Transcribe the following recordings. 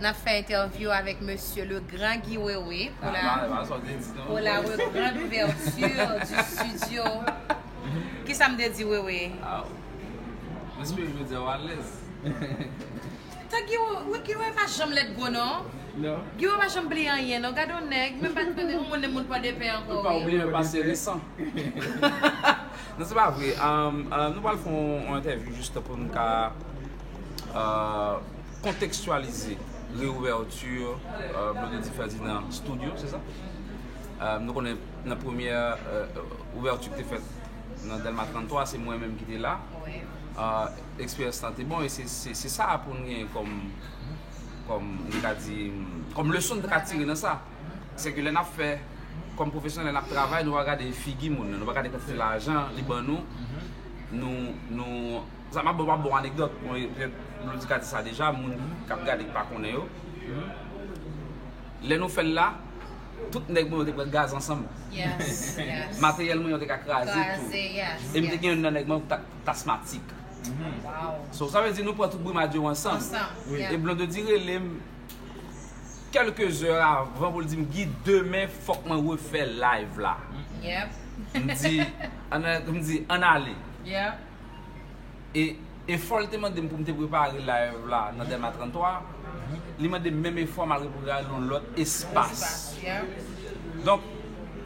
N ap fè entèvyou avèk mesye le gran Guy Wewe pou la grand ouverture du studio Kisa m te di Wewe? Tan Giwo wi Giwo pa janm lèd gwo non Giwo pa janm bliye anyen non gade yon nèg menm pa konnen ou monnen moun pòdepè ankò wi ou bliye pase resan non se pa vre nou pral fè yon entèvyou jis pou nou ka kontekstyalize reouvèti Blondedy Ferdinand studio se sa nou konnen nan premye ouvèti ki te fèt nan Dèlma 33 se mwen menm ki te la. Eksperyans lan te bon e se sa pou n gen kòm, kòm nou ka di, kòm leson nou ka tire nan sa. Se ke lè n ap fè, kòm pwofesyonèl, lè n ap travay, nou pa gade figi moun nan, nou pa gade kantite lajan li ban nou, nou, nou, sa m ap ba w bon anekdòt, bon e pèt nou ka di sa deja, moun k ap gade ki pa konnen yo, lè nou fè l la, tout nèg mwen yo te pral gaze ansanm. Materyèl mwen yo te ka kraze tou. E m te gen youn nan nèg mwen yo ki ta. Tasmatic. So sa vle di nou pran tout Brumad yo ansanm. E Blondedy rele m kelke zè avan pou l di m Guy demen fòk mwen refè live la. M di m di ann ale. E fò l te mande m pou m te prepare live la nan Dèlma 33. li mande menm efò malgre pou gade yon lòt espas. Donk,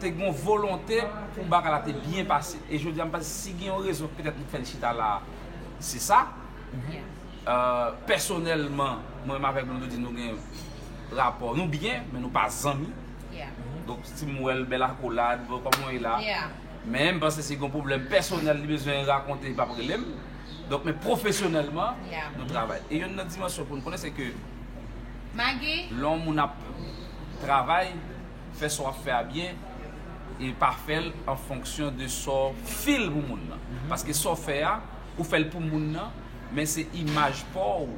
te gen yon volonte pou bagay la te byen pase. E jodi a m panse si gen yon rezon petèt nou fè n chita la a, se sa. Pèsonèlman, mwen menm avèk Blondedy nou gen rapò, nou byen, men nou pa zanmi. Donk, si m wè l bèl akolad, bon, kòman w ye la? Men, m panse si gen yon pwoblèm pèsonèl li bezwen rakonte, li pap rele m. Donk men pwofesyonèlman nou travay. E yonn nan dimansyon pou nou konnen se ke lè yon moun ap travay, fè sa w ap fè a byen e pa fè l an fonksyon de sa w fil pou moun nan. Paske sa w fè a, ou fè l pou moun nan, men se imaj pa w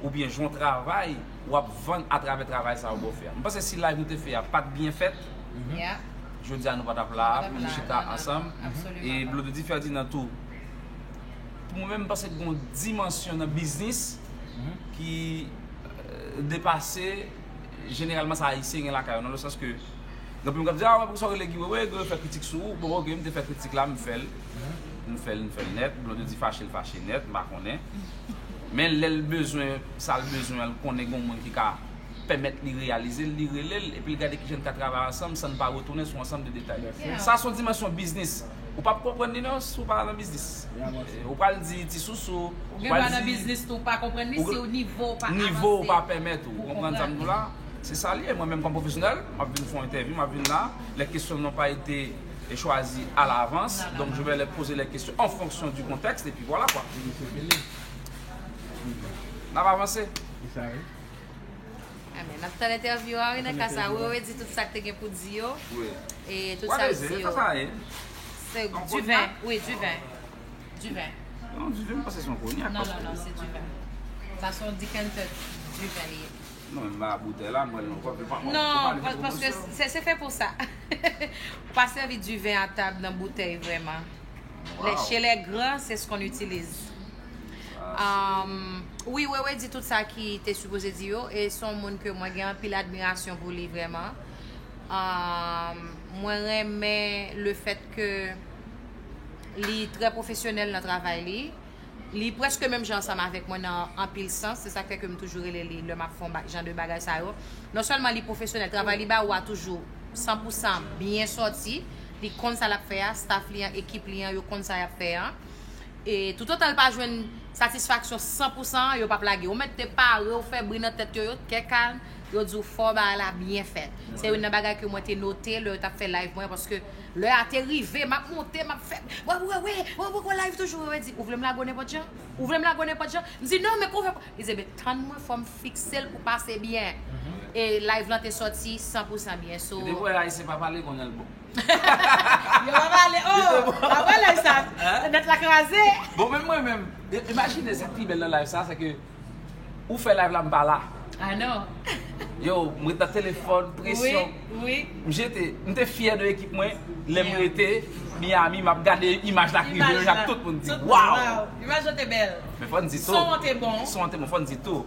oubyen jan w travay w ap vann atravè travay sa a w fè a. Mwen panse si layv nou te fè a pa t byen fèt, jodi a nou pa t ap la a pou nou chita ansanm. E Blondedy Ferdinand tou. Pou mwen menm m panse gon dimansyon nan biznis ki depase jeneralman sa ayisyen gen lakay yo nan le sans ke anpil moun kap di a wè pou kisa w rele Guy Wewe, Guy Wewe fè kritik sou ou, bon ok m te fè kritik la m fèl m fèl m fèl nèt, Blondedy fache l fache nèt m pa konnen men lè l bezwen sa l bezwen an l konnen gon moun ki ka pèmèt li reyalize l, li rele l, epi l gade kijan n ka travay ansanm san n pa retounen sou ansanm de detay. Sa se yon dimansyon biznis. Ou pa p konprann li nan si w pa nan biznis. Ou pral di ti sousou, ou pral di. Ou gen dwa nan biznis tou pa konprann li si nivo w pa avanse. Nivo w pa pèmèt ou. Ou konprann sa m di w la? Se sa l ye. Mwen menm kòm pwofesyonèl, m ap vin fè yon entèvyou, m ap vin la, les questions n'ont pas été choisies à l'avance, donc je vais les poser les questions en fonction du contexte et puis voilà quoi. N ap avanse. Amen. Nap tan entèvyou a wi nan ka sa. Wewe di tout sak te gen pou di yo. Wi. E tout sa di yo. Wap beze, sa sa ye? Se du vin, wi du vin. Du vin. Non, du vin pa se son konyak. Non, non, non, se du vin. Sa son decanter du vin li ye. Non, m ba boutèy la, m wèl nan kòp. Non, paske se fè pou sa. Ou pa sèvi du vin a tab nan boutèy vreman. Wow. Chez les grands, c'est ce qu'on utilise. Wi wewe di tout sa ki te sipoze di yo e son moun ke mwen gen anpil admirasyon pou li vreman mwen renmen le fèt ke li trè profesyonèl nan travay li li preske menm jan ansanm avèk mwen nan anpil sans se sak fè ke m toujou rele li lè map fon jan de bagay sa yo non sèlman li profesyonèl travay li ba ou a toujou san pou san byen sòti li konn sa lap fè a staff li an ekip li an yo konn sa yap fè an. E toutotan l pa jwenn satisfaksyon san pou san an, yo p ap lage. Ou mèt te pare, ou fè bri nan tèt yo, yo tè kalm, yo di w fò bagay la byen fèt. Se youn nan bagay ke mwen te note lè yo t ap fè live mwen an paske lè a te rive, m ap monte, m ap fè, wè wè wè, wè poko live toujou. Yo di, ou vle m lage w nenpòt jan? Ou vle m lage w nenpòt jan? M di, non men kouman w fè? Li di, enben tann mwen fò m fikse l pou pase byen. E live lan te sòti san pou san byen. So. Yo te kwè Ayisyen pa pale konn lè l bon. Yo pa pale oh Aprè live sa Net la kraze Bon men mwen menm Imajine sak pi bèl nan live sa se ke Ou fè live la m pa la I know Yo m ret nan telefòn presyon M jete M te fyè de ekip mwen Lè m rete Miami m ap gade imaj la kriye Ak tout moun di waw Imaj la te bèl Son an te bon Son an te bon Fò n di tou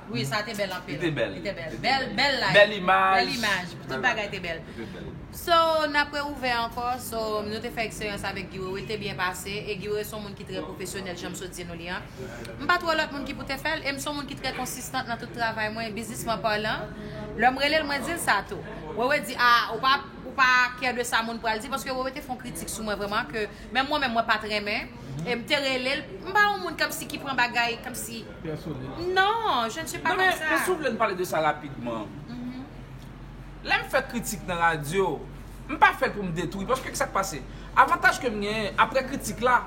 Wi sa te bèl anpil. Li te bèl. Li te bèl. Bèl bèl live. Bèl imaj. Bèl imaj. Tout bagay te bèl. Li te bèl. So nap re ouvè ankò so nou te fè eksperyans avèk Guy Wewe li te byen pase e Guy Wewe son moun ki trè pwofesyonèl janm sot di nou li an. M pat wè lòt moun ki pou te fèl e m son moun ki trè konsistant nan tout travay mwen bizisman palan. Lè m rele l mwen di l sa tou. Wewe di a ou pa ou pa kè de sa moun pral di paske Wewe te fon kritik sou mwen vrèman ke menm mwen menm mwen pat renmen e m te rele l m pa yon moun kòmsi ki pran bagay kòmsi pèsonèl. Non, je ne suis pas comme ça. Men, si w vle n pale de sa rapidman. Lè m fè kritik nan radyo, m pa fè l pou m detwi. Paske ki sa k pase? Avantaj ke m genyen, apre kritik la,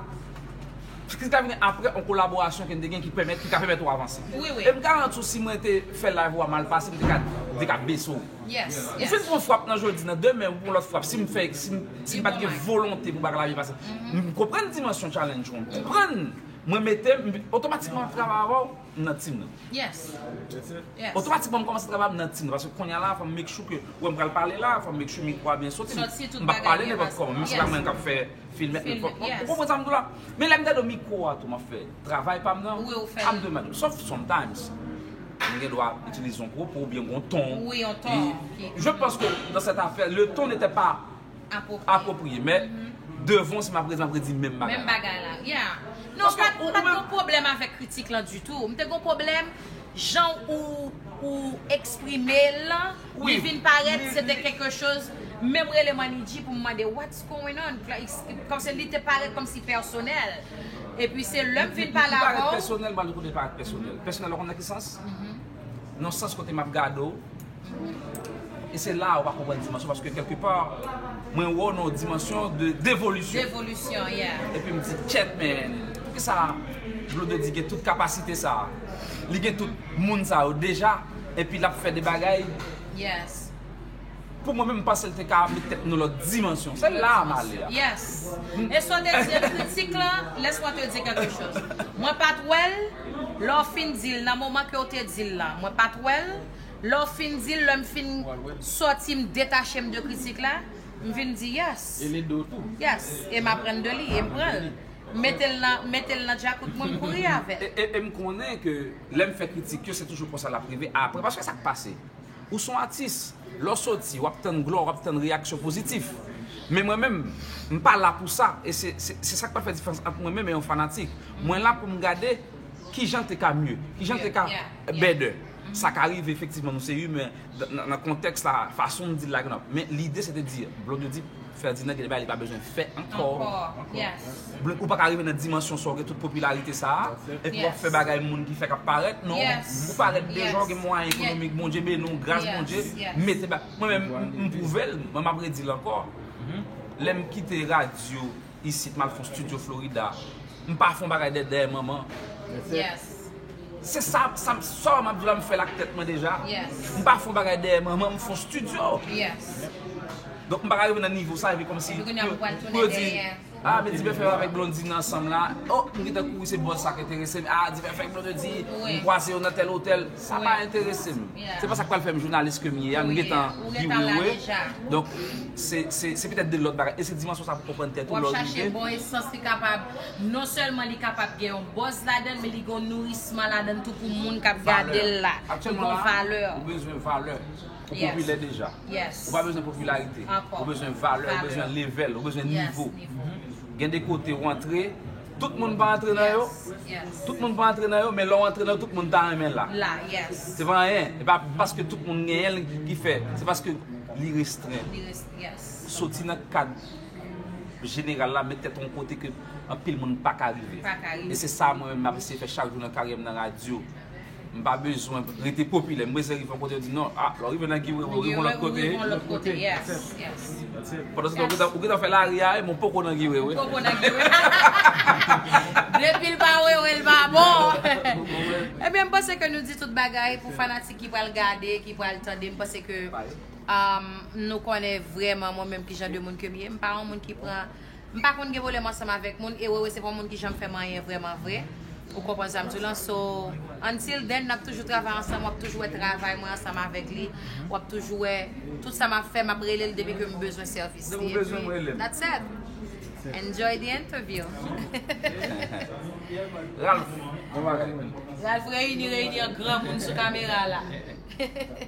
kritik la vini apre yon kolaborasyon ke n te gen ki pèmèt, ki ka pèmèt ou avanse. Wi, wi. E m garanti w si mwen te fè live ou a mal pase, m te ka, m te ka bese w. Yes, yes. Ou fin pran yon frap nan jodi, nan demen ou pran yon lòt frap, si m fè, si m, si m pa t gen volonte pou bagay la byen pase. M konprann dimansyon challenge ou an, m konprann. Mwen mete m otomatikman ap travay avè w nan team nan. Yes yes. Otomatikman m kòmanse travay avè w nan team nan paske kounya la fò m make sure ke wè m pral pale la fò m make sure mikwo a byen soti m pap pale nenpòt kòman menm si se pa mwen kap fè film et tout ou konprann sa m di w la men lè m gade mikwo a tou map fè travay pa m nan ap de mèt sof sometimes m gen dwa itilize yon pwopo oubyen m gen yon ton je panse ke nan sèt afè le ton nete pa Apwopriye men Devan se map rezan predi menm bagay la Menm bagay la ya Non m pat gon pwoblèm avèk kritik lan ditou M te gon pwoblèm jan ou eksprime l lan Li vin parèt se te kèlke choz Menm rele Manidji pou m mande what's going on Kòmsi li te parèt kòmsi pèsonèl Epi se lè m vin pale avè w Li parèt pèsonèl m pa di kote li parèt pèsonèl Pèsonèl ou konnen nan ki sans Nan sans kote map gade w E se la ou pa konprann dimansyon paske kelke pa mwen wè w nan yon dimansyon de devolisyon. Devolisyon, yeah. E pi m di kèt men, poukisa Blondedy gen tout kapasite sa a? Li gen tout moun sa yo deja e pi l ap fè de bagay? Yes. Pou mwen menm m panse l te ka met tèt nan lòt dimansyon. Se la m ale a. Yes. E sa w te di an kritik la, laisse-moi te dire quelque chose. Mwen pa t wè l, lè w fin di l, nan moman ke w te di l la, mwen pa t wè l, Lè w fin di l, lè m fin sòti m detache m de kritik la, m vin di yes. Yes, e m aprann de li, e m pran l. M mete l nan, m mete l nan djakout mwen, m kouri avè l. E m konnen ke lè m fè kritik yo, se toujou konsa l ap rive apre. Paske sa k pase? Ou son atis, lè w soti, w ap tann glwa, w ap tann reyaksyon pozitif. Men mwen menm, m pa la pou sa. E se, se sa k pral fè diferans ant mwen menm e yon fanatik. Mwen la pou m gade kijan l te ka mye, kijan l te ka better. sa ka rive efektivman nou se imen nan kontèks la fason nou dil la gen men lide se te di Blonde di Ferdinand gen de bagay li pa bezwen fè ankò Blonde ou pa ka rive nan dimansyon sa w gen tout popilarite sa epi w ap fè bagay moun ki fè k ap parèt non ou parèt deja w gen mwayen ekonomik Bondye beni w gras Bondye mete bagay mwen menm m pwouve l mwen m ap redil ankò lè m kite radyo isit mal fon studio Florida m pa fon bagay dèt dèyè manman se sa sa map di la m fèl ak tèt mwen deja m pa fon bagay dèyè manman m fon studio donk m pa ka rive nan nivo sa epi kòmsi pou yo di a men dipèfèk avèk blondine ansanm la oh m gentan kouri se bòz sa k enterese m a dipèfèk blondedy m kwaze yo nan tèl otèl. Sa pa enterese m. Se pa sa k pral fè m jounalis ke m ye a. M gentan virewe. Donk, se petèt de lòt bagay. E se dimansyon sa pou w konprann tèt ou lè w rive. Fò w chache bon esans li kapab, non sèlman li kapab gen yon bòz ladan l, men li gen yon nourisman ladan l tou pou moun k ap gade l la. Li gen yon valè. Ou bezwen valè. Ou popilè deja. Ou pa bezwen popilarite. Ou bezwen valè. Ou bezwen level. Ou bezwen nivo. Gen de kote ou antre. Tout moun pa antre nan yo Tout moun pa antre nan yo men lè w antre nan yo tout moun ta renmen la Se pa anyen E pa paske tout moun genyen l ki fè Se paske li restren Soti nan kad jeneral la met tèt w yon kote ke anpil moun pa ka rive E se sa mwen menm m ap eseye fè chak jou nan karyè m nan radyo M pa bezwen rete popilè. M bezwen rive yon kote yo di non. Ah, lè w rive nan Guiwewe, ou rive yon lòt kote. Ou rive yon lòt kote, yes, yes. Pandan se tan ou gentan fè lari a, men ou poko nan Guiwewe. Ou poko nan Guiwewe. Depi l pa wewe, l pa bon. Ebyen, m panse ke nou di tout bagay pou fanatik ki pral gade, ki pral tande. M panse ke nou konnen vreman mwen menm ki jan de moun ke m ye. M pa yon moun ki pran. M pa konn gen pwoblèm ansanm avèk moun e Wewe se pa yon moun ki janm fè manyen vrèman vre ou konprann sa m di w lan so until then n ap toujou travay ansanm w ap toujou wè travay mwen ansanm avèk li w ap toujou wè tout sa m ap fè m ap rele l depi ke m bezwen sèvis li epi that's it Enjoy the interview Ralph Reyini reyini an granmoun sou kamera la.